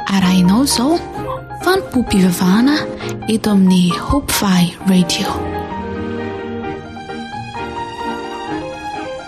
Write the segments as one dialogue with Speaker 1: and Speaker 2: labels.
Speaker 1: arahinao izao fanompoam-pivavahana eto amin'ny hopvy radio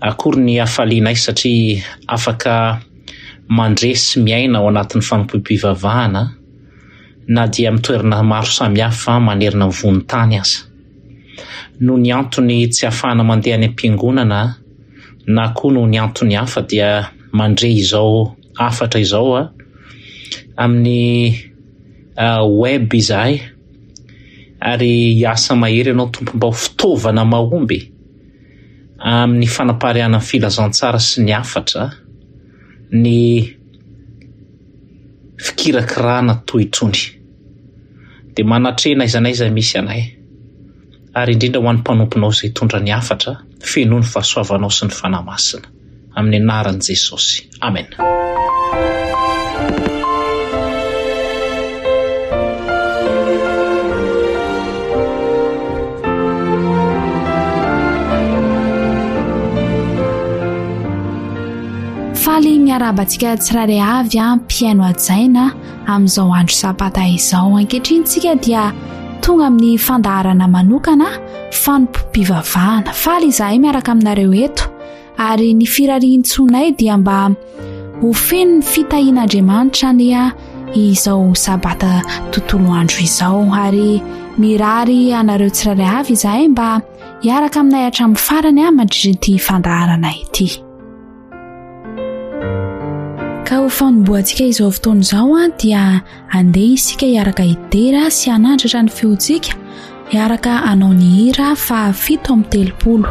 Speaker 2: Akory ny hafalianay satria afaka mandre sy miaina ao anatin'ny fanompoam-pivavahana na dia amin'ny toerana maro samihafa manerana ny vohon-tany aza. Noho ny antony tsy ahafahana mandeha any am-piangonana na koa noho ny antony hafa dia mandre izao hafatra izao amin'ny web izahay ary hiasa mahery ianao tompom-bao fitaovana mahomby e! amin'ny fanapariahana ny filazantsara sy ny hafatra, ny fikirakirana toy itony dia manatrena aiza n'aiza misy anay ary indrindra ho an'ny mpanomponao izay hitondra ny hafatra fenoy ny fahasoavanao sy ny Fanahy Masina. Amin'ny anaran'i Jesosy. Amena.
Speaker 1: Faly miarahaba antsika tsirairay avy a mpihaino hajaina amin'izao andro sabata izao ankehitriny tsika dia tonga amin'ny fandaharana manokana fanompoam-pivavahana faly izahay miaraka aminareo eto ary ny firarian-tsoanay dia mba ho feno ny fitahian'Andriamanitra anie izao sabata tontolo andro izao ary mirary anareo tsirairay avy izahay mba hiaraka aminay hatramin'ny farany ahy mandritra ity fandaharana ity ka ho fanombohantsika izao fotoana izao a dia andeha isika hiaraka hidera sy hanandratra ny fihontsika hiaraka anao ny hira fa fito amin'ny telopolo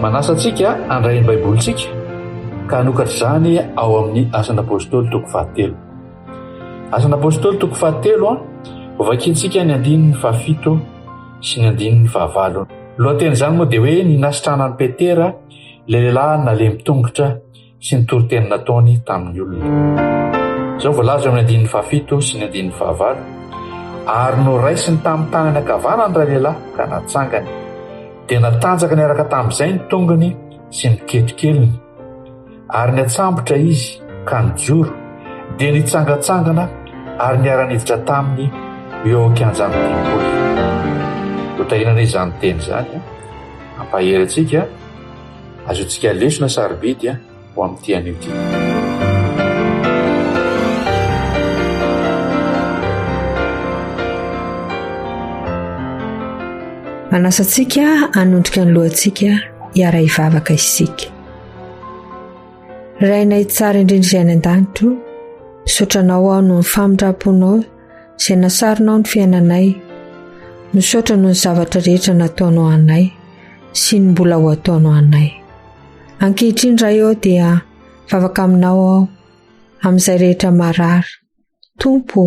Speaker 3: Manasa antsika handray ny Baibolintsika ka hanokatra izany ao amin'ny Asan'Apôstôly toko fahatelo. Asan'Apôstôly toko fahatelo a, hovakintsika ny andininy fahafito sy ny andininy fahavalo. Ny lohatenin'izany moa dia hoe ny nasitrana an'i Petera ilay lehilahy nalemy tongotra. sy ny toriteny nataony tamin'ny olona. Izao voalaza eo amin'ny andininy fahafito sy ny andininy fahavalo, ary noraisiny tamin'ny tanany ankavanany ray lehilahy ka natsangany, dia natanjaka niaraka tamin'izay ny tongony sy ny ketokeliny, ary niatsambotra izy ka nijoro, dia nitsangantsangana ary niara-niditra taminy eo an-kianjan'ny tempoly. Hotahinana izany teny izany, ampahery antsika. Azontsika lesona sarobidy ho amin'ity anio ity.
Speaker 4: Manasa antsika hanondrika ny lohantsika hiara-hivavaka isika. Rainay tsara indrindra izay any an-danitro, misaotra anao aho noho ny famindram-ponao izay nasaronao ny fiainanay. Misaotra noho ny zavatra rehetra nataonao anay sy ny mbola ho ataonao anay. Ankehitriny Ray ao dia vavaka aminao aho amin'izay rehetra marary. Tompo,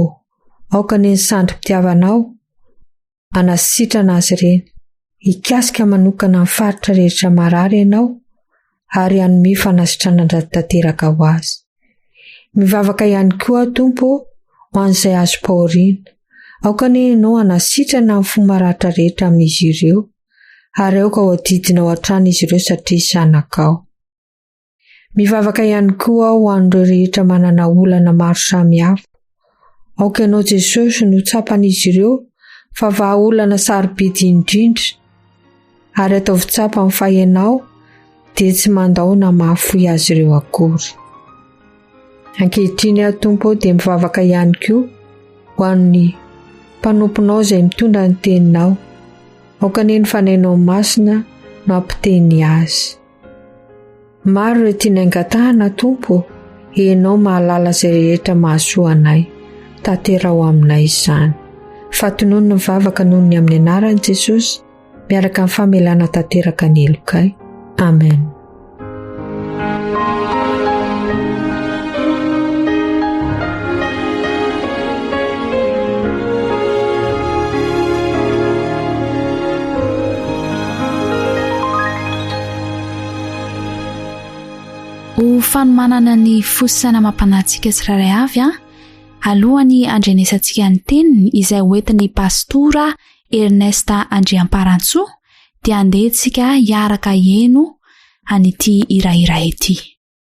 Speaker 4: aoka ny ny sandry-pitiavanao hanasitrana azy ireny. Hikasika manokana ny faritra rehetra marary ianao ary hanome fanasitranana tanteraka ho azy. Mivavaka ihany koa aho Tompo ho an'izay azom-pahoriana. Aoka anie ianao hanasitrana ny fo maratra rehetra amin'izy ireo ary aoka ho adidinao hatrany izy ireo satria zanakao. Mivavaka ihany koa aho ho an'ireo rehetra manana olana maro samihafa. Aoka ianao Jesosy no tsapan'izy ireo fa vahaolana sarobidy indrindra ary ataovy tsapany fa ianao dia tsy mandao na mahafoy azy ireo akory. Ankehitriny aho Tompo dia mivavaka ihany koa ho an'ny mpanomponao izay mitondra ny teninao. Aoka anie ny fanainao masina no ampiteny azy. Maro ireo tianay angatahana, Tompo, Ianao mahalala izay rehetra mahasoa anay. Tanteraho aminay izany. Fatonony ny vavaka noho ny amin'ny anaran'i Jesosy, miaraka amin'ny famelana tanteraka ny helokay. Amen.
Speaker 1: Ho fanomanana ny fo sy saina amam-panahintsika tsirairay avy, alohan'ny handrenesantsika ny teniny izay hoentin'ny Pastora Ernest Andriamparantsoa dia andeha isika hiaraka hihaino an'ity hirahira ity.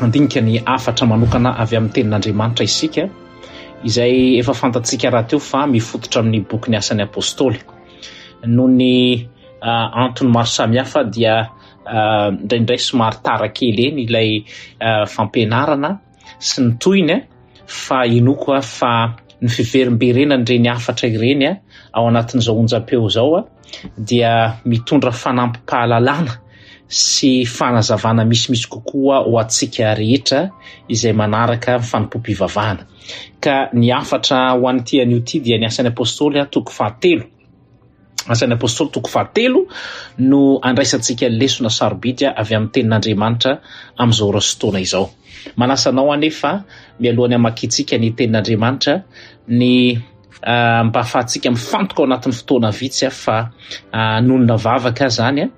Speaker 2: handinika ny hafatra manokana avy amin'ny tenin'Andriamanitra isika, izay efa fantatsika rahateo fa mifototra amin'ny bokin'ny Asan'ny Apôstôly. Noho ny uh, antony maro samihafa dia uh, indraindray somary tara kely eny ilay uh, fampianarana sy ny tohiny fa inoako fa ny fiverimberenan'ireny hafatra ireny ao anatin'izao onjam-peo izao dia mitondra fanampim-pahalalana sy fanazavana misimisy kokoa ho antsika rehetra izay manaraka ny fanompoam-pivavahana. Ka ny hafatra ho an'ity anio ity dia ny asan'ny apôstôly toko fahatelo. Asan'ny apôstôly toko fahatelo no andraisantsika ny lesona sarobidy avy amin'ny tenin'Andriamanitra amin'izao ora sy taona izao. Manasa anao anefa mialohan'ny hamakiantsika ny tenin'Andriamanitra ny Ah, mba afahantsika mifantoka ao anatin'ny fotoana vitsy ah, fa ah, anonona vavaka ah, zany ah,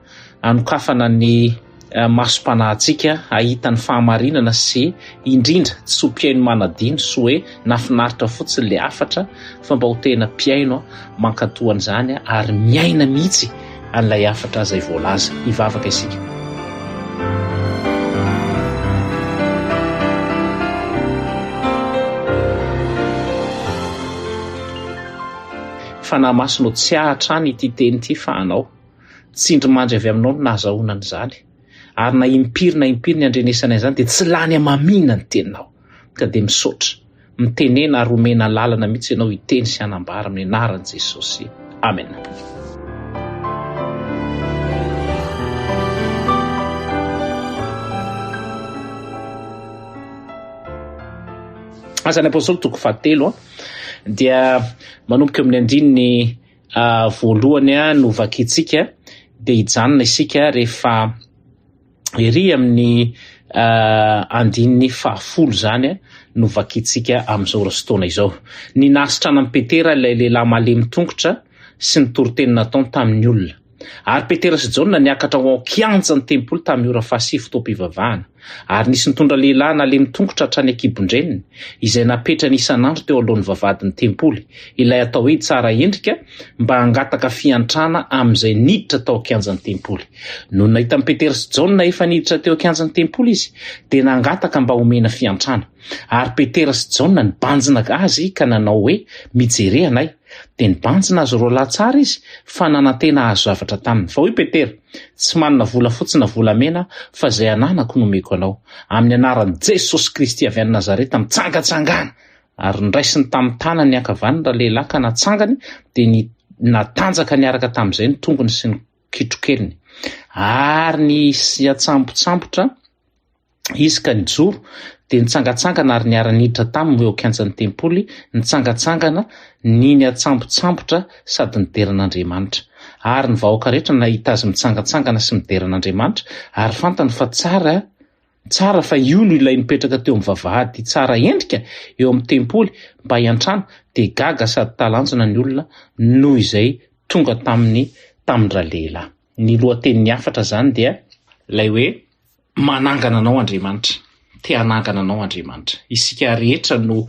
Speaker 2: anokafana ny ah, masom-panahintsika ahita ny fahamarinana sy indrindra tsy ho mpihaino manadino sy hoe nafinaritra fotsiny le hafatra fa mba ho tena mpihaino ah, mankatoa an'izany ah, ary miaina mihitsy an'ilay hafatra izay voalaza. Hivavaka isika. Fanahy Masina ô, tsiahy hatrany ity teny ity fa Anao. Tsindry mandry avy Aminao no nahazahoana an'izany. Ary na impiry na impiry ny andrenesana izany dia tsy lany hamamiana ny Teninao. ka dia misaotra. Mitenena ary omena alalana mihitsy ianao hiteny sy hanambara amin'ny anaran'i Jesosy. Amena. Asan'ny Apostoly toko fahatelo a dia manomboka eo amin'ny andininy voalohany a no vakintsika dia hijanona isika rehefa Ery amin'ny andininy fahafolo izany no vakintsika amin'izao rosotona izao. Ny nahasitrana an'i Petera ilay lehilahy malemy tongotra sy ny toriteny nataony tamin'ny olona. Ary Petera sy Jaona niakatra ho ao kianjan'ny tempoly tamin'ny ora fahasivy fotoam-pivavahana. Ary nisy nitondra lehilahy nalemy tongotra hatrany an-kibon-dreniny, izay napetrany isan'andro teo alohan'ny vavahadin'ny tempoly, ilay atao hoe Tsara endrika, mba hangataka fiantrana amin'izay niditra tao an-kianjan'ny tempoly. Nony nahitan'i Petera sy Jaona efa niditra teo an-kianjan'ny tempoly izy, dia nangataka mba homena fiantrana. Ary Petera sy Jaona nibanjina azy ka nanao hoe, Mijere anay. Dia nibanjina azy roa lahy tsara izy, fa nanantena hahazo zavatra taminy. Fa hoy Petera, Tsy manana volafotsy na volamena, fa izay ananako no omeko anao. Amin'ny anaran'i Jesosy Kristy avy any Nazareta, mitsangatsangana! Ary nraisiny tamin'ny tanany ankavan'ny ralehilahy ka natsangany, dia ny natanjaka niaraka tamin'izay ny tongony sy ny kitrokeliny. Ary nisiantsambotsambotra izy ka nijoro, dia nitsangatsangana ary niara-niditra taminy eo an-kianjan'ny tempoly, nitsangatsangana, niniantsambotsambotra sady nidera an'Andriamanitra. Ary ny vahoaka rehetra nahita azy mitsangatsangana sy midera an'Andriamanitra, ary fantany fa tsara Tsara fa io no ilay nipetraka teo amin'ny vavahady tsara endrika eo amin'ny tempoly mba hiantrana dia gaga sady talanjona ny olona noho izay tonga taminy tamin-dralehilahy. Ny lohatenin'ny hafatra izany dia. Ilay hoe, Manangana anao Andriamanitra. Te hanangana anao Andriamanitra. Isika rehetra no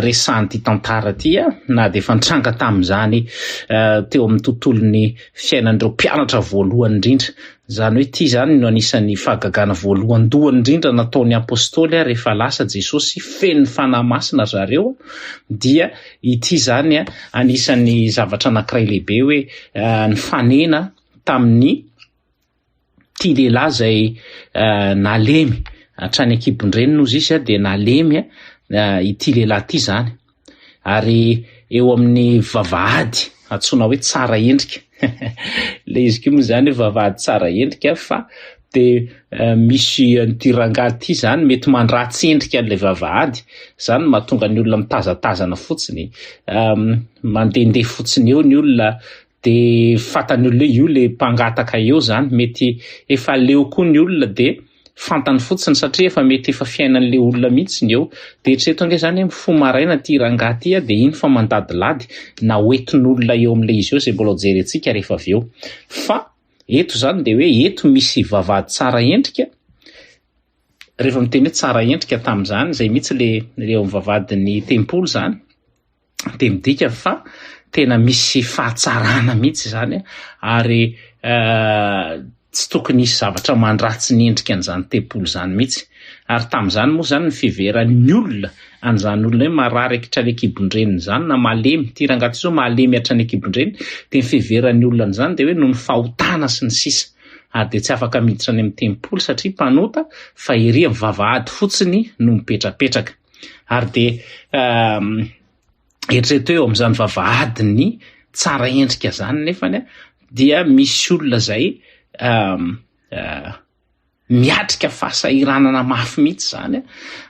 Speaker 2: resahan'ity tantara ity na dia efa nitranga tamin'izany teo amin'ny tontolon'ny fiainan'ireo mpianatra voalohany indrindra Izany hoe ity izany no anisan'ny fahagagana voalohandohany indrindra nataon'ny apostoly rehefa lasa Jesosy feno ny Fanahy Masina ry zareo dia ity izany anisan'ny zavatra anankiray lehibe hoe nifanena tamin'ny ity lehilahy izay nalemy hatrany ankibon-dreniny ozy izy dia nalemy ity lehilahy ity izany. ary eo amin'ny vavahady antsoina hoe tsara endrika le izy ko moa zany hoe vavahady tsara endrika fa de eh, misy an'ity rangahy ity zany mety mandratsy endrika an'ilay vavahady zany mahatonga ny olona mitazatazana fotsiny um, mandehandeha fotsiny eo ny olona de fatany olona io le mpangataka eo zany mety efa leo koa ny olona de fantany fotsiny satria efa mety efa fiainan'le olona mihitsy ny eo de eritrereto ange zany hoe mifoha maraina ty rangahy ty de iny fa mandadilady na hoetin'olona eo amin'le izy eo zay mbola hojerentsika rehefa avy eo fa eto zany de hoe eto misy vavahady tsara endrika rehefa miteny hoe tsara endrika tamin'izany zay mihitsy le eo amin'ny vavahadin'ny tempoly zany dia midika fa tena misy fahatsarana mihitsy izany ary tsy tokony hisy zavatra mandratsy ny endrika an'izany tempoly izany mihitsy ary tamin'izany moa izany ny fiveran'ny olona an'izany olona hoe marary akitra any an-kibon-dreniny izany na malemy ity rangahy ity izao malemy hatrany an-kibon-dreniny dia ny fiveran'ny olona an'izany dia hoe noho ny fahotana sy ny sisa ary dia tsy afaka miditra any amin'ny tempoly satria mpanota fa ery amin'ny vavahady fotsiny no mipetrapetraka Ary dia eritrereto eo amin'izany vavahadin'ny tsara endrika izany nefany dia misy olona izay miatrika fahasahiranana mafy mihitsy izany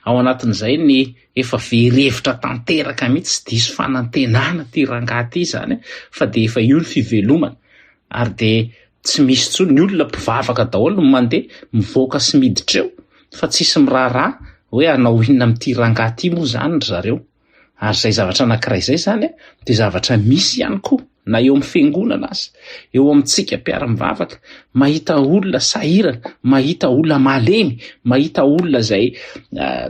Speaker 2: ao anatin'izay ny efa very hevitra tanteraka mihitsy sy diso fanantenana ty rangahy ty izany fa dia efa io ny fivelomana Ary dia tsy misy intsony, ny olona mpivavaka daholo no mandeha mivoaka sy miditra eo fa tsisy miraharaha hoe hanao inona amin'ity rangahy ity moa izany ry zareo. Ary izay zavatra anankiray izay izany dia zavatra misy ihany koa na eo amin'ny fiangonana aza, eo amintsika mpiara-mivavaka, mahita olona sahirana, mahita olona malemy, mahita olona izay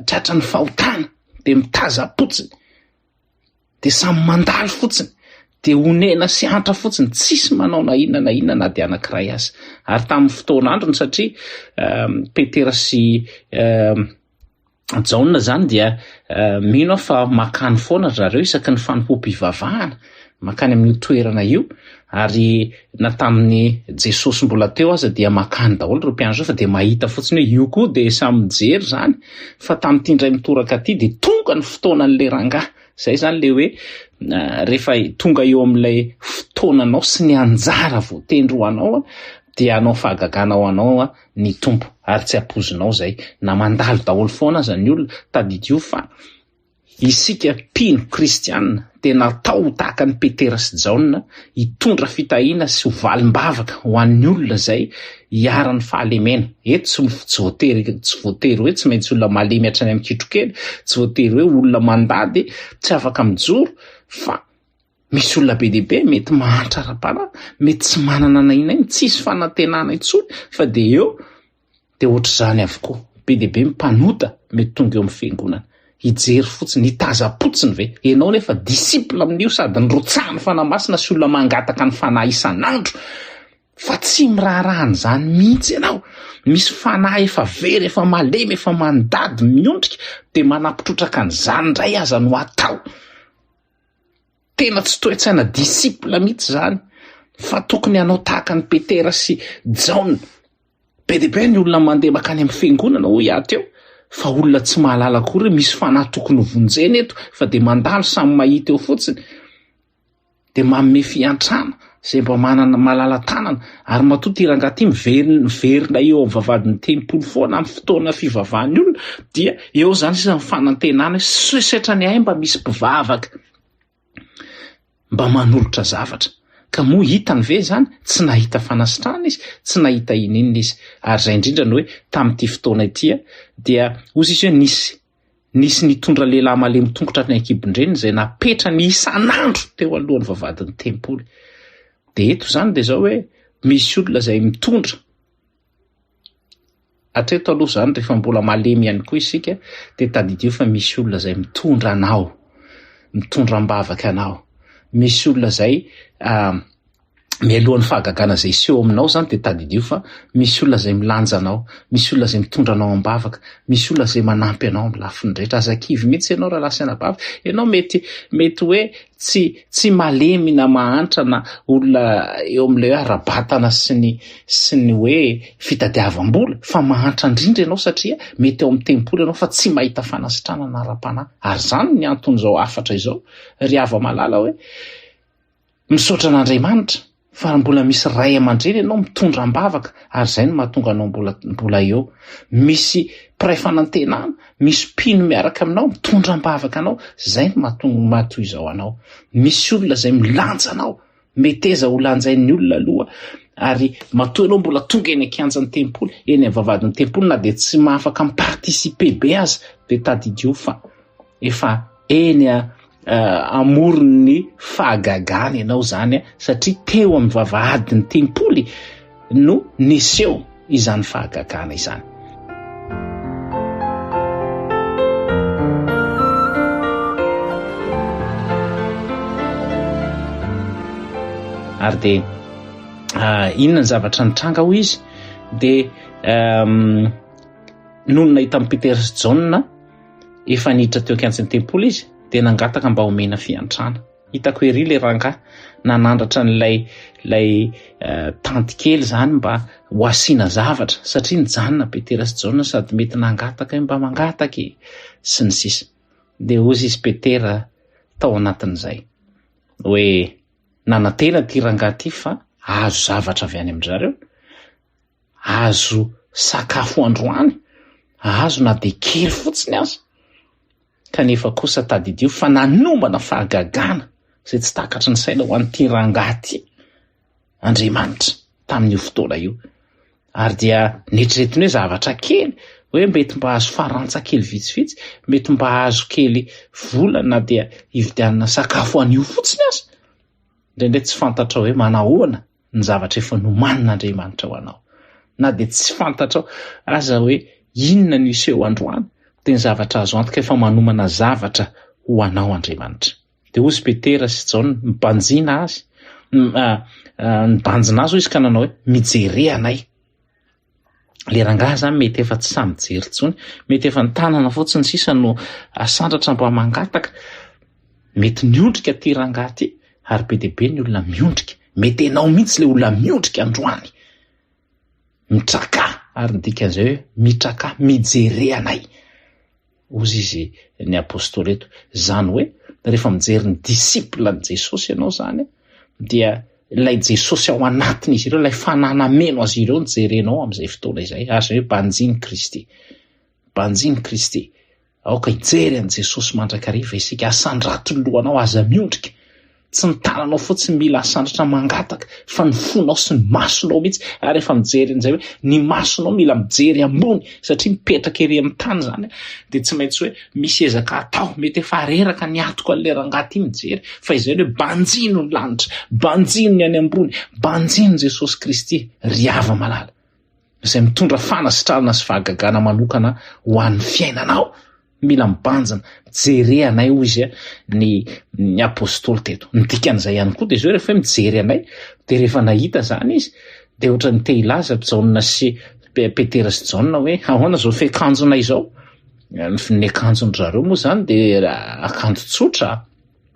Speaker 2: tratran'ny fahotana dia mitaza-potsiny. de samy mandalo fotsiny de onena sy antra fotsiny tsisy manao na inona na inona na de anankiray azy ary tamin'ny fotoana androny satria ehm, petera sy ehm, jaona zany dia eh, mino aho fa makany foana ry zareo isaky ny fanompoam-pivavahana makany amin'io toerana io Ary na tamin'ny Jesosy mbola teo aza dia makany daholo ireo mpianatra ireo fa dia mahita fotsiny hoe io koa dia samy mijery izany fa tamin'ity indray mitoraka ity dia tonga ny fotoanan'ilay rangahy. Izay izany ilay hoe rehefa tonga eo amin'ilay fotoananao sy ny anjara voatendry ho anao dia anao fahagagana ho anao ny Tompo ary tsy apozinao izay na mandalo daholo foana aza ny olona tadidio fa Isika mpino kristiana dia natao ho tahaka an'i Petera sy Jaona, hitondra fitahiana sy ho valim-bavaka ho an'ny olona izay iharan'ny fahalemena. Eto tsy voatery tsy voatery hoe tsy maintsy olona malemy hatrany amin'ny kitrokely, tsy voatery hoe olona mandady tsy afaka mijoro fa misy olona be dia be mety mahantra ara-panahy, mety tsy manana na inona na inona, tsisy fanantenana intsony fa dia eo Dia ohatr'izany avokoa. Be dia be ny mpanota mety tonga eo amin'ny fiangonana. Hijery fotsiny, hitazam-potsiny ve? Ianao anefa disciple amin'io sady nirotsahan'ny Fanahy Masina sy olona mangataka ny Fanahy isan'andro fa tsy miraharaha an'izany mihitsy ianao. Misy fanahy efa very, efa malemy, efa mandady, miondrika, dia manapitrotraka an'izany indray aza no atao. Tena tsy toe-tsaina disciple mihitsy izany fa tokony hanao tahaka an'i Petera sy Jaona. Be dia be ny olona mandeha makany amin'ny fiangonana hoy aho teo fa olona tsy mahalala akory hoe misy fanahy tokony ho vonjena eto fa dia mandalo samy mahita eo fotsiny dia manome fiantrana izay mba manana malala-tanana ary matoa ity rangahy ity miverina miverina eo amin'ny vavahadin'ny tempoly foana amin'ny fotoana fivavahan'ny olona dia eo izany sisa ny fanantenana hoe setra ny ahy mba misy mpivavaka mba manolotra zavatra. Ka moa hitany ve izany? Tsy nahita fanasitrahana izy, tsy nahita ininona izy. Ary izay indrindra no hoe tamin'ity fotoana ity dia hozy izy hoe nisy nisy nitondra lehilahy malemy tongotra tany an-kibon-dreniny izay napetrany isan'andro teo alohan'ny vavahadin'ny tempoly. Dia eto izany dia izao hoe misy olona izay mitondra Hatreto aloha izany rehefa mbola malemy ihany koa isika dia tadidio fa misy olona izay mitondra anao, mitondra am-bavaka anao, misy olona izay mialohan'ny fahagagana izay hiseho aminao izany dia tadidio fa misy olona izay milanja anao, misy olona izay mitondra anao am-bavaka, misy olona izay manampy anao amin'ny lafiny rehetra, aza kivy mihitsy ianao raha lasa anabavy, ianao mety mety hoe Tsy tsy malemy na mahantra na olona eo amin'ilay hoe ara-batana sy ny sy ny hoe fitadiavam-bola fa mahantra indrindra ianao satria mety ao amin'ny tempoly ianao fa tsy mahita fanasitranana ara-panahy. Ary izany ny anton'izao hafatra izao ry hava-malala hoe misaotra an'Andriamanitra. Fa mbola misy ray aman-dreny ianao mitondra am-bavaka ary izay no mahatonga anao mbola mbola eo. Misy mpiray fanantenana, misy mpino miaraka aminao mitondra am-bavaka anao, izay no mahatonga mahatoy izao anao. Misy olona izay milanja anao, meteza ho lanjain'ny olona aloha ary matoa ianao mbola tonga eny an-kianjan'ny tempoly, eny amin'ny vavahadin'ny tempoly na dia tsy mahafaka mi-participer be aza dia tadidio fa efa Eny a, amoron' ny fahagagana ianao izany a, satria teo amin'ny vavahadin'ny tempoly no neseho izany fahagagana izany. Ary dia ah, inona ny zavatra nitranga hoy izy dia ehm, nony nahita an'i Petera sy Jaona Efa niditra teo an-kiantsn'ny tempoly izy dia nangataka mba omena fiantrana. Hitako ery ilay rangahy nanandratra an'ilay ilay uh, tanty kely izany mba ho asiana zavatra satria nijanona Petera sy Jaona sady mety nangataka mba mangataka e sy ny sisa. Dia hozy izy Petera tao anatin'izay hoe nanantena ity rangahy ity fa azo zavatra avy any amin-dry zareo azo sakafo androany, azo na dia kely fotsiny aza, kanefa kosa tadidio fa nanomana fahagagana izay tsy takatry ny saina ho an'ity rangahy ity Andriamanitra tamin'io fotoana io, ary dia neritreretiny hoe zavatra kely, hoe mety mba azo farantsa kely vitsivitsy, mety mba azo kely vola na dia hividianana sakafo anio fotsiny aza, indraindray tsy fantatrao hoe manahoana ny zavatra efa nomanin'Andriamanitra ho anao. Na dia tsy fantatrao aza hoe inona no hiseho androany, dia ny zavatra azo antoka efa manomana zavatra ho anao Andriamanitra. Dia hozy Petera sy Jaona mibanjina azy, mibanjina azy hoy izy ka nanao hoe, Mijerea anay. le rangaha zany mety efa tsy samy jery tsony mety efa nytanana fotsiny sisa no asandratra mba mangataka mety miondrika ty rangaha ty ary be debe ny olona miondrika mety enao mihitsy le olona miondrika androany mitraka ary ny dikan'izay hoe mitraka mijereanay Hozy izy ny apostoly eto, izany hoe rehefa mijery ny disciple an'i Jesosy ianao izany dia ilay Jesosy ao anatin'izy ireo, ilay fanahy nameno azy ireo no jerenao amin'izay fotoana izay, ary izay hoe banjin'i Kristy. Banjin'i Kristy. Aoka hijery an'i Jesosy mandrakariva isika, asandrato ny lohanao, aza miondrika. Tsy ny tananao fotsiny mila asandratra mangataka fa ny fonao sy ny masonao mihitsy ary efa mijery an'izay hoe ny masonao mila mijery ambony satria mipetraka ery amin'ny tany izany dia tsy maintsy hoe misy ezaka atao mety efa reraka ny atoko an'ilay rangahy ity mijery fa izay hoe banjino ny lanitra banjino ny any ambony banjino Jesosy Kristy ry hava malala izay mitondra fanasitranana sy fahagagana manokana ho an'ny fiainanao Mila mibanjina, jere anay hoy izy ny ny apostoly teto. Ny dikan'izay ihany koa dia izao rehefa hoe mijery anay dia rehefa nahita izany izy dia ohatran'ny te hilaza Jaona sy Petera sy Jaona hoe ahoana izao fiakanjona izao? Ny ny akanjon-dry zareo moa izany dia akanjo tsotra.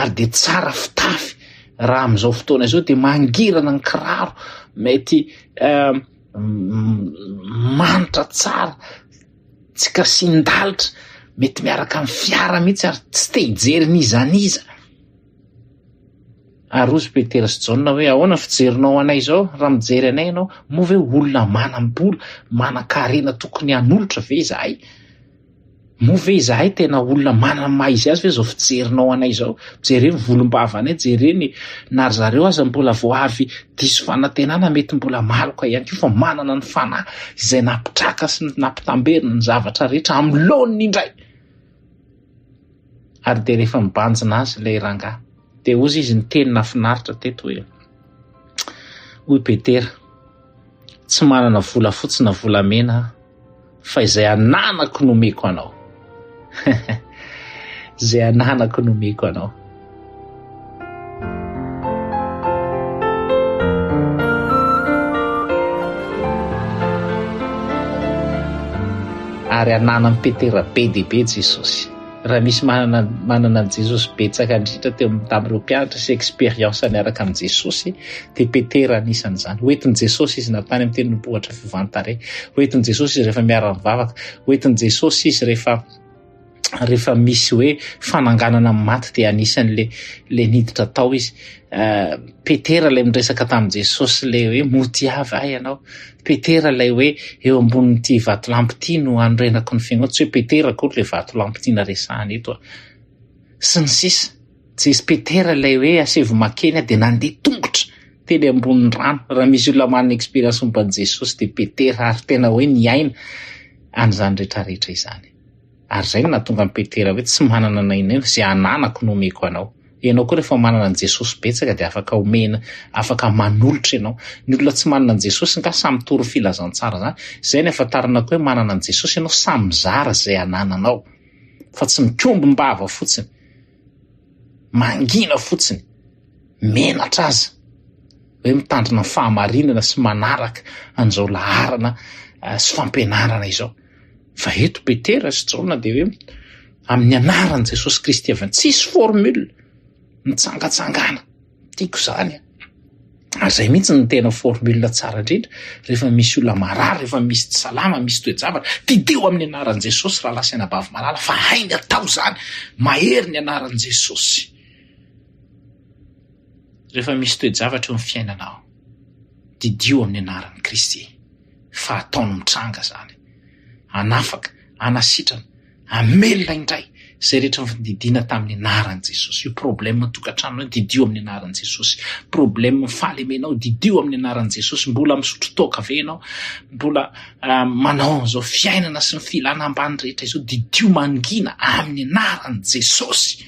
Speaker 2: ary dia tsara fitafy raha amin'izao fotoana izao dia mangirana ny kiraro mety eh, manitra tsara tsy kasin-dalitra mety miaraka amin'ny fiara mihitsy ary tsy te hijery nizaniza ary ozy petera sy jaona hoe ahoana fijerinao anay izao raha mijery anay ianao moa ve olona manam-bola manan-karena tokony hanolotra ve izahay Moa ve izahay tena olona manana maha izy azy ve izao fijerinao anay izao? Jere ny volombavanay, jere ny na ry zareo aza mbola vao avy diso fanantenana mety mbola maloka ihany koa fa manana ny fanahy izay nampitraka sy nampitamberina ny zavatra rehetra amin'ny laoniny indray. Ary dia rehefa mibanjina azy ilay rangahy. Dia hozy izy niteny nafinaritra teto hoe, hoy Petera, tsy manana volafotsy na volamena aho, fa izay ananako no omeko anao. izay ananako no omeko anao. Ary ananan'i Petera be dia be Jesosy. Raha misy manana manana an'i Jesosy betsaka indrindra teo tamin'ireo mpianatra sy expérience niaraka amin'i Jesosy dia Petera anisan'izany. Hoentin'i Jesosy izy na tany amin'ny tendrombohitra fivantare. Hoentin'i Jesosy izy rehefa miara-mivavaka. Hoentin'i Jesosy izy rehefa rehefa misy hoe fananganana amin'ny maty dia anisan'le le niditra tao izy. Uh, Petera le miresaka tamin'i Jesosy le hoe motiavy ahy ianao. Petera ilay hoe eo ambonin'ity vatolampy ity no hanorenako ny fiangonana, tsy hoe Petera akory ilay vatolampy tiana resahina eto an! sy ny sisa Jesosy Petera ilay hoe asevo makeny aho dia nandeha tongotra teny ambonin'ny rano, raha misy olona manana expérience momba an'i Jesosy dia Petera ary tena hoe niaina an'izany rehetra rehetra izany. Ary izay no nahatonga an'i Petera hoe, Tsy manana na inona na inona, izay ananako no omeko anao. Ianao koa rehefa manana an'i Jesosy betsaka dia afaka omena, afaka manolotra ianao. Ny olona tsy manana an'i Jesosy angaha samy mitory ny filazantsara izany. Izay no ihafantarana koa hoe manana an'i Jesosy ianao, samy mizara izay anananao fa tsy mikombom-bava fotsiny. mangina fotsiny, menatra aza hoe mitandrina ny fahamarinana sy manaraka an'izao laharana eh, sy fampianarana izao. Fa eto Petera sy Jaona dia hoe amin'ny anaran'i Jesosy Kristy avy any, tsisy formule, mitsangatsangana. Tiako izany a! Ary zay mihitsy ny tena formule tsara indrindra rehefa misy olona marary, rehefa misy tsy salama, misy toe-javatra, didio amin'ny anaran'i Jesosy rahalahy sy anabavy malala fa hainy atao izany, mahery ny anaran'i Jesosy. Rehefa misy toe-javatra eo amin'ny fiainanao, didio amin'ny anaran'i Kristy fa ataony mitranga izany. Anafaka, anasitrana. Amelona indray izay rehetra nididiana tamin'ny anaran'i Jesosy. Io problème tokantrano io didio amin'ny anaran'i Jesosy. Problème fahalemenao didio amin'ny anaran'i Jesosy. Mbola misotro toaka ve ianao? Mbola uh, manao an'izao fiainana sy ny filana ambany rehetra izao didio mangina amin'ny anaran'i Jesosy.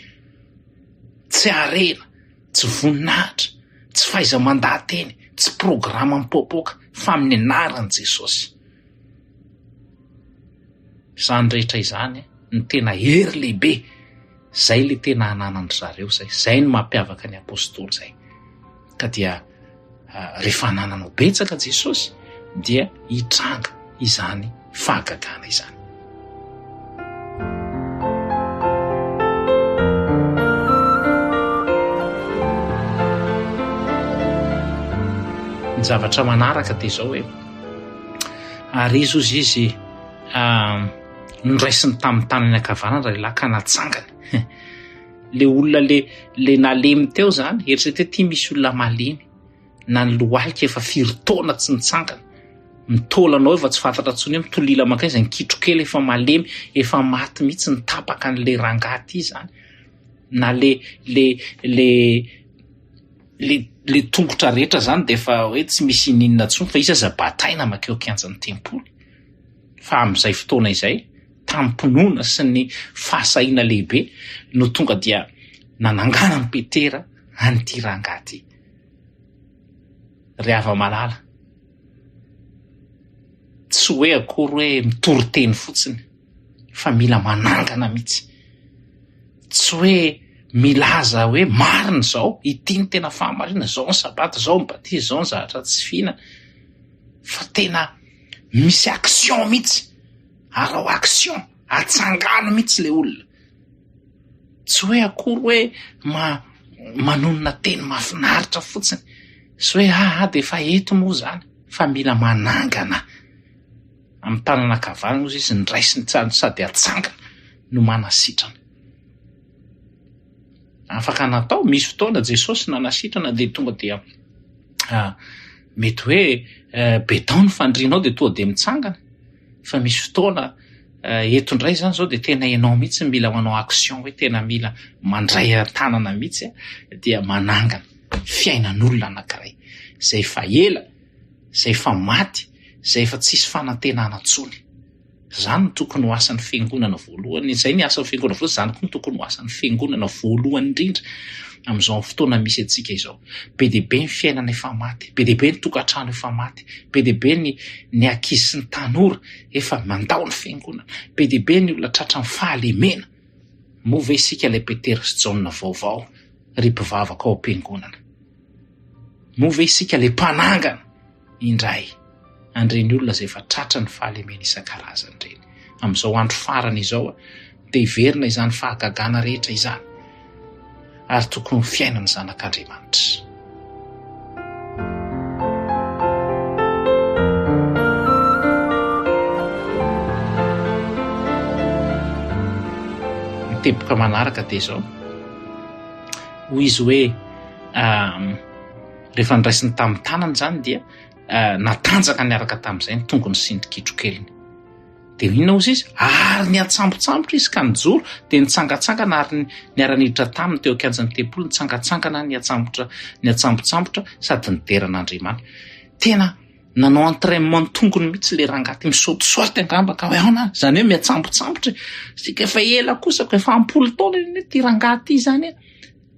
Speaker 2: Tsy arena, tsy voninahitra, tsy faiza mandaha teny, tsy programme mipoapoaka fa amin'ny anaran'i Jesosy. Izany rehetra izany no tena hery lehibe, izay ilay tena ananan'ny ry zareo izay, izay no mampiavaka ny Apostoly izay. Ka dia rehefa anananao betsaka Jesosy dia hitranga izany fahagagana izany. Ny zavatra manaraka dia izao hoe ary izy ozy izy noraisiny tamin'ny tanany ankavanana lehilahy ka natsangany le olona le le nalemy teo zany eritreto hoe ty misy olona malemy na ny lohalika efa firy taona tsy nitsangana ny taolanao efa tsy fantatra ntsony hoe mitolila makay izay ny kitrokely efa malemy efa maty mihitsy ny tapaka an'la rangahy ty zany na le le le le le tongotra rehetra zany de efa hoe tsy misy ininona ntsony fa izy aza bataina makeo kianjan'ny tempoly fa amin'izay fotoana izay tampinoana sy ny fahasahiana lehibe no tonga dia nanangana ny petera an'ity rangahy ty ry hava-malala. Tsy hoe akory hoe mitory teny fotsiny fa mila manangana mihitsy. Tsy hoe milaza hoe marina izao, ity ny tena fahamarinana, izao ny sabata, izao ny batisa, izao ny zavatra tsy fihinana fa tena misy action mihitsy, arao action, atsangano mihitsy ilay olona. Tsy hoe akory hoe ma- manonona teny mahafinaritra fotsiny sy hoe aha dia efa eto moa izany fa mila manangana amin'ny tanana ankavanana ozy izy ny raisiny sady atsangana no manasitrana. Afaka natao, misy fotoana Jesosy nanasitrana dia tonga dia mety hoe be tao ny fandrinao dia tonga dia mitsangana fa misy fotoana Eto indray izany izao dia tena ianao mihitsy no mila manao action hoe tena mila mandray an-tanana mihitsy dia manangana fiainan'olona anankiray izay efa ela, izay efa maty, izay efa tsisy fanantenana intsony. Izany no tokony ho asan'ny fiangonana voalohany, izay ny asan'ny fiangonana voalohany, izany koa no tokony ho asan'ny fiangonana voalohany indrindra amin'izao fotoana misy antsika izao. Be dia be ny fiainana efa maty, be dia be ny tokantrano efa maty, be dia be ny ny ankizy sy ny tanora Efa mandao ny fiangonana. Be dia be ny olona tratran'ny fahalemena. Moa ve isika ilay Petera sy Jaona vaovao, ry mpivavaka ao am-piangonana? Moa ve isika ilay mpanangana indray an'ireny olona izay efa tratran'ny fahalemena isan-karazany ireny? Amin'izao andro farany izao, dia hiverina izany fahagagana rehetra izany, ary tokony ho fiainan'ny zanak'Andriamanitra. Ny teboka manaraka dia izao, hoy izy hoe rehefa ndraisiny tamin'ny tanany izany dia natanjaka niaraka tamin'izay ny tongony sy ny kitrokeliny. Dia inona osa izy? Ary niantsambontsambotra izy ka nijoro, dia nitsangantsangana ary niara-niditra taminy teo an-kianjan'ny tempoly, nitsangantsangana, niantsambotra, niantsambontsambotra sady nidera an'Andriamanitra. Tena nanao entraînement ny tongony mihitsy ilay rangahy ity, misaute saute angamba ka hoe aona, izany hoe miantsambontsambotra e! Isika efa ela kosa, efa am-polo taona ity rangahy ity izany e!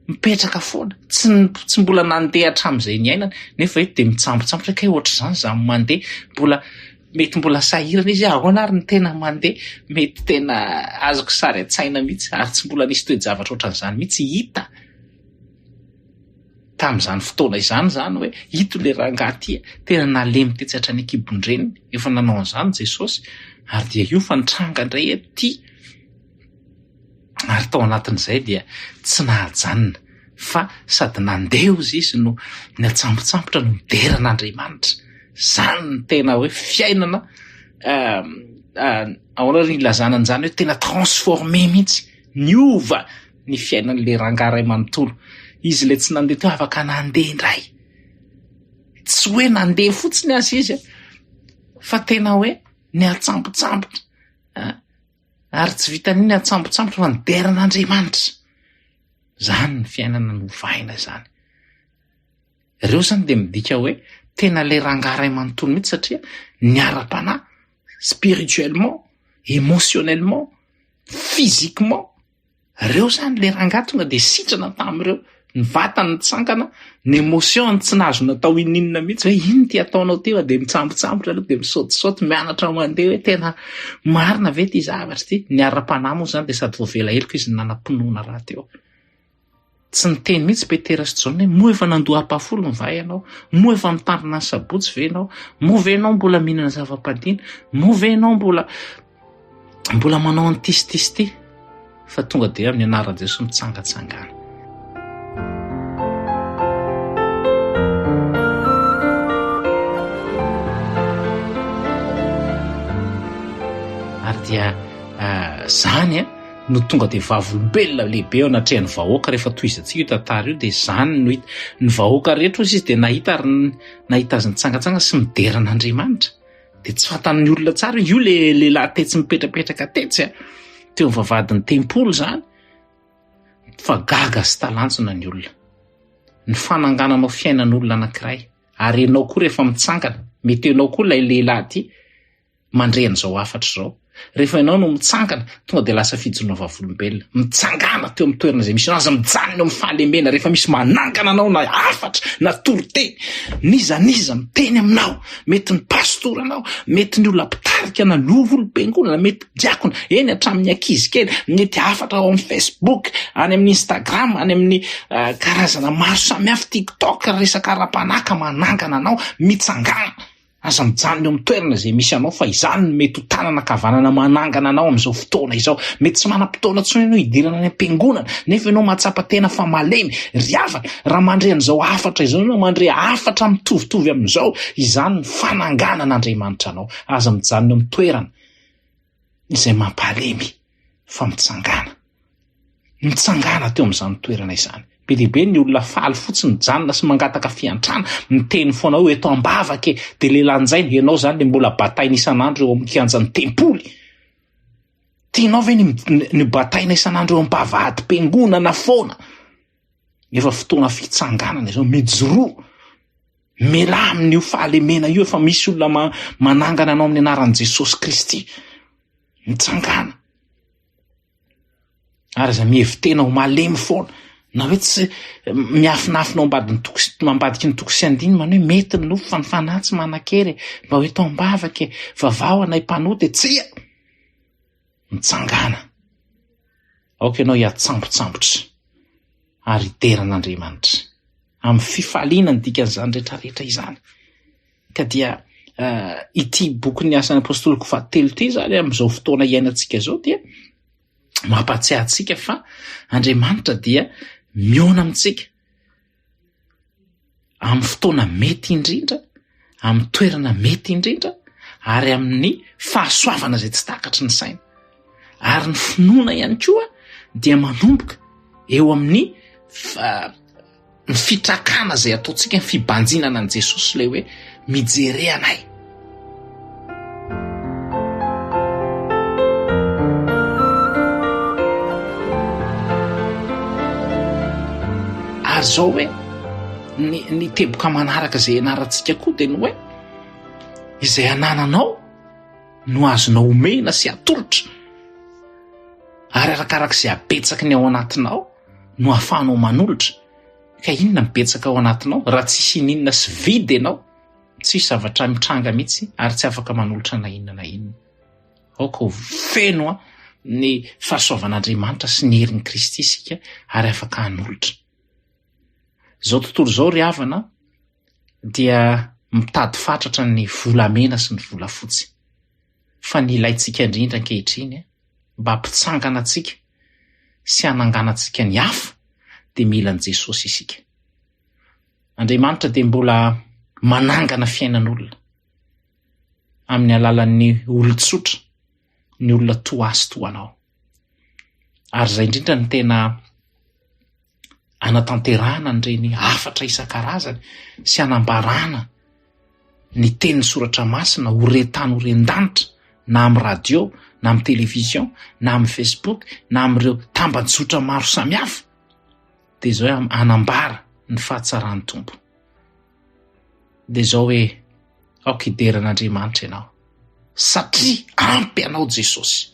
Speaker 2: mipetraka foana, tsy tsy mbola nandeha hatramin'izay niainany, nefa eto dia mitsambotsambotra hoe kay ohatr'izany izaho mandeha, mbola mety mbola sahirana izy hoe ahoana ary ny tena mandeha, mety tena azoko sary an-tsaina mihitsy, ary tsy mbola nisy toe-javatra ohatran'izany mihitsy hita tamin'izany fotoana izany izany hoe ito ilay rangahy ity, tena nalemy tetsy hatrany an-kibon-dreniny, efa nanao an'izany Jesosy, ary dia io fa nitranga indray eto ity. ary tao anatin'izay dia tsy nahajanona fa sady nandeha ozy izy no ny atsambotsambotra no midera an'Andriamanitra. Zany ny tena hoe fiainana euh, euh, ahoana ry ilazana an'izany hoe tena transformé mihitsy, niova ny fiainan'ilay rangahy iray manontolo. Izy ilay tsy nandeha teo afaka nandeha indray. Tsy hoe nandeha fotsiny azy izy fa tena hoe ny atsambotsambotra. Ary tsy vitan'iny atsambotsambotra fa nidera an'Andriamanitra. Izany ny fiainana novahina izany. Ireo izany dia midika hoe tena ilay rangahy iray manontolo mihitsy satria niara-panahy spirituellement, émotionnellement, physiquement. Reo zany le rangah tonga de sitrana tamin'ireo, ny vatany nitsangana, ny emotion-ny tsy nahazo natao ininona mihitsy hoe inn ity ataonao ty fa de mitsambotsambotra aloha de misaotisaoty mianatra mandeha hoe tena marina ve ty zavatra ty, ny ara-panahy moa zany de sady voavela heloka izy no nanam-pinoana rahateo. Tsy niteny mihitsy Petera sy Jaona hoe, Moa efa nandoa ampahafolony va ianao? Moa efa mitandrina ny Sabotsy ve ianao? Moa ve ianao mbola mihinana zava-padiny? Moa ve ianao mbola mbola manao an'ity sy ity sy ity? Fa tonga dia amin'ny anaran'i Jesoa mitsangatsangana. dia ah, zany a eh, no tonga dia vavolombelona lehibe eo anatrehan'ny vahoaka rehefa tohizantsika io tantara io dia izany no hita ny vahoaka rehetra ozy izy dia nahita ary nahita azy nitsangatsanga sy midera an'Andriamanitra dia tsy fantan'ny olona tsara io le lehilahy tetsy mipetrapetraka tetsy a teo amin'ny vavahadin'ny tempoly izany fa gaga sy talanjona ny olona ny fanangananao fiainan'olona anankiray ary ianao koa rehefa mitsangana mety ianao koa ilay lehilahy ity mandre an'izao hafatra izao. Rehefa ianao no mitsangana, tonga dia lasa fijoroana vavolombelona. Mitsangàna teo amin'ny toerana izay misy anao. Aza mijanona eo amin'ny fahalemena. Rehefa misy manangana anao na hafatra na toriteny, n'iza n'iza miteny aminao, mety ny pastora anao, mety ny olona mpitarika na ny olom-piangonana, mety diakona, eny hatramin'ny ankizy kely, mety hafatra ao amin'ny Facebook, any amin'ny Instagram, any amin'ny uh, karazana maro samihafa, TikTok, resaka ara-panahy ka manangana anao, mitsangàna. Aza mijanona eo amin'ny toerana izay misy anao fa izany no mety ho tanana ankavanana manangana anao amin'izao fotoana izao. Mety tsy manam-potoana intsony ianao hidirana any am-piangonana nefa ianao mahatsapa tena fa malemy. Ry havana, raha mandre an'izao hafatra izao ianao, mandre hafatra mitovitovy amin'izao, izany no fananganan'Andriamanitra anao. Aza mijanona eo amin'ny toerana. izay mampahalemy fa mitsangàna. Mitsangàna teo amin'izany toerana izany. Be dia be ny olona faly fotsiny mijanona sy mangataka fiantrana, miteny foana hoe eto am-bavaka e, dia lelanjaina, ianao izany dia mbola bataina isan'andro eo amin'ny kianjan'ny tempoly. Tianao ve ny bataina isan'andro eo am-bavahadimpiangonana foana? Efa fotoana fitsanganana izao, mijoroa, mialà amin'io fahalemena io, efa misy olona manangana anao amin'ny anaran'i Jesosy Kristy, mitsangana. Ary aza mihevi-tena ho malemy foana, na hoe tsy miafinafina ao ambadin'ny toko sy ambadiky ny toko sy andiny manao hoe mety ny nofo fa ny fanahy tsy manan-kery mba hoe tao am-bavaka e vavaho anay mpanota e tsia mitsangana Aoka ianao hiatsambotsambotra ary hidera an'Andriamanitra amin'ny fifaliana ny dikan'izany rehetrarehetra izany. Ka dia uh, ity bokin'ny asan'ny apostoloko fahatelo ity izany amin'izao fotoana iainantsika izao dia mampahatsiahy antsika fa Andriamanitra dia miona amintsika amin'ny fotoana mety indrindra, amin'ny toerana mety indrindra ary amin'ny fahasoavana izay tsy takatry ny saina. Ary ny finoana ihany koa dia manomboka eo amin'ny ny fitrakana izay ataontsika ny fibanjinana an'i Jesosy ilay hoe mijery anay. ary zao hoe ny ny teboka manaraka izay anarantsika koa dia ny hoe izay anananao no azonao omena sy atolotra ary arakaraka izay abetsaky ny ao anatinao no ahafahanao manolotra ka inona mibetsaka ao anatinao raha tsisy ininona sy vide ianao Tsisy zavatra mitranga mihitsy ary tsy afaka manolotra na inona na inona. Aoka ho feno ny fahasoavan'Andriamanitra sy ny herin'i Kristy isika ary afaka hanolotra. Izao tontolo izao ry havana dia mitady fatratra ny volamena sy ny volafotsy. Fa ny ilaintsika indrindra ankehitriny mba hampitsangana antsika sy hananganantsika ny hafa dia mila an'i Jesosy isika. Andriamanitra dia mbola manangana fiainan'olona amin'ny alalan'ny olon-tsotra, ny olona toa azy toa anao. Ary izay indrindra ny tena anatanterahana an'ireny hafatra isan-karazany sy anambarana ny teny soratra masina ho rentany ho rendanitra na amin'ny radio na amin'ny televizion na amin'ny facebook na amin'ireo tambajotra maro samihafa dia izao hoe hanambara ny fahatsaran'ny Tompo. Dia izao hoe aoka hidera an'Andriamanitra ianao satria ampy anao Jesosy.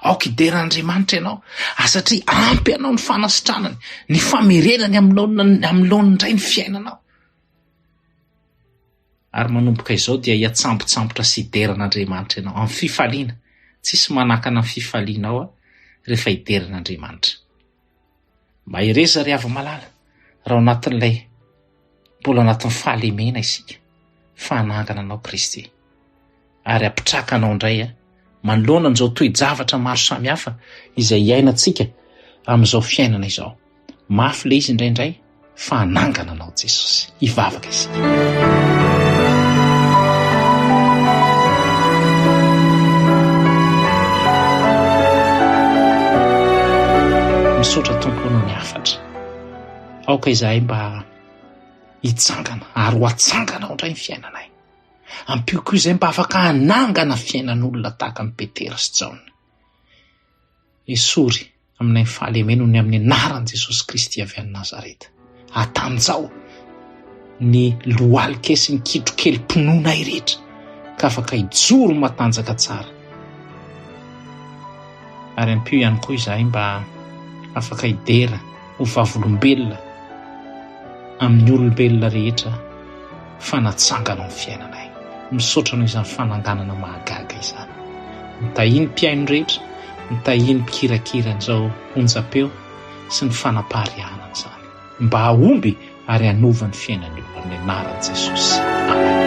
Speaker 2: Aoka hidera an'Andriamanitra ianao ah, satria ampy anao ny fanasitranany, ny famerenany amin'ny laonina amin'ny laoniny indray ny fiainanao. Ary manomboka izao dia hiatsambotsambotra sy hidera an'Andriamanitra ianao amin'ny fifaliana. Tsisy manakana ny fifalianao ah, rehefa hidera an'Andriamanitra. Mahereza ry havy malala raha ao anatin'ilay mbola ao anatin'ny fahalemena isika fa hanangana anao Kristy ary hampitraka anao indray manoloana an'izao toe-javatra maro samihafa izay iainantsika amin'izao fiainana izao. Mafy ilay izy indraindray. fa hanangana anao Jesosy. Hivavaka isika. Misaotra Tompo noho ny hafatra. Aoka izahay mba hitsangana ary ho atsangana ao indray ny fiainanay. Ampio koa izay mba afaka hanangana fiainan'olona tahaka an'i Petera sy Jaona. Esory Aminay ny fahalemena ho ny amin'ny anaran'i Jesosy Kristy avy any Nazareta. Atanjaho ny lohalika sy ny kitrokelim-pinoanay rehetra ka afaka hijoro matanjaka tsara. Ary ampio ihany koa izahay mba afaka hidera ho vavolombelona amin'ny olombelona rehetra fa natsangana ny fiainanay. Misaotra noho izany fananganana mahagaga izany. Ny tahian'ny mpihaino rehetra, ny tahian'ny mpikirakira an'izao onjam-peo sy ny fanapariahana an'izany. Mba hahomby ary hanova ny fiainan'io amin'ny anaran'i Jesosy. Amena.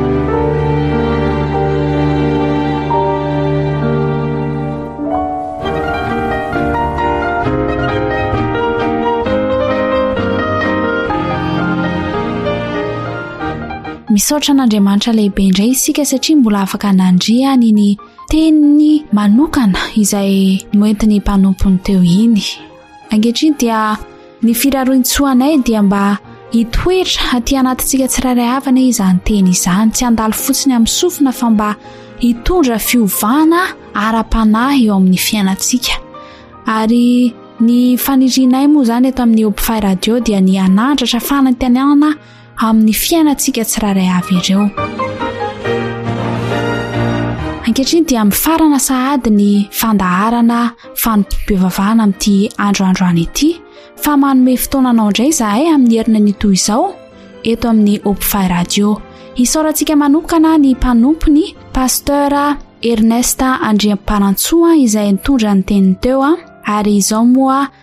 Speaker 1: Misaotra an'Andriamanitra lehibe indray isika satria mbola afaka nandria ny ny teniny manokana izay noentiny mpanompony teo iny. Ankehitriny dia ny firaroin-tsoa anay dia mba hitoetra aty anatintsika tsirairay avy anie izany teny izany, tsy handalo fotsiny amin'ny sofina fa mba hitondra fiovana ara-panahy eo amin'ny fiainantsika. Ary ny fanirinay moa izany eto amin'ny Hopify Radio dia ny hanandratra fanantenana amin'ny fiainantsika tsirairay avy ireo. Ankehitriny dia mifarana sahady ny fandaharana fanompoam-pivavahana amin'ity andro androany ity fa manome fotoana anao indray izahay amin'ny herina ny toy izao eto amin'ny Opfy Radio. Isaorantsika manokana ny mpanompony Pasteur Ernest Andriamparantsoa izay nitondra ny teniny teo ary izao moa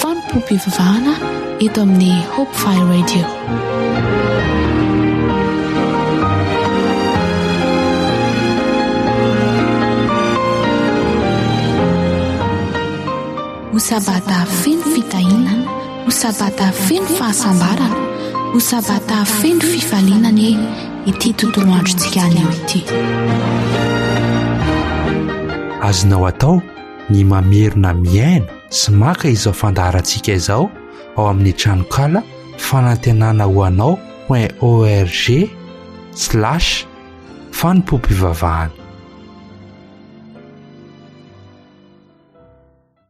Speaker 1: Fanompoam-pivavahana eto amin'ny Hope Fire Radio. Ho sabata feno fitahiana, ho sabata feno fahasambarana, ho sabata feno fifaliana anie ity tontolo androntsika anio ity.
Speaker 5: Azonao atao ny mamerina mihaino sy maka izao fandaharantsika izao ao amin'ny tranonkala fanantenana ho anao point org slash fanompoam-pivavahana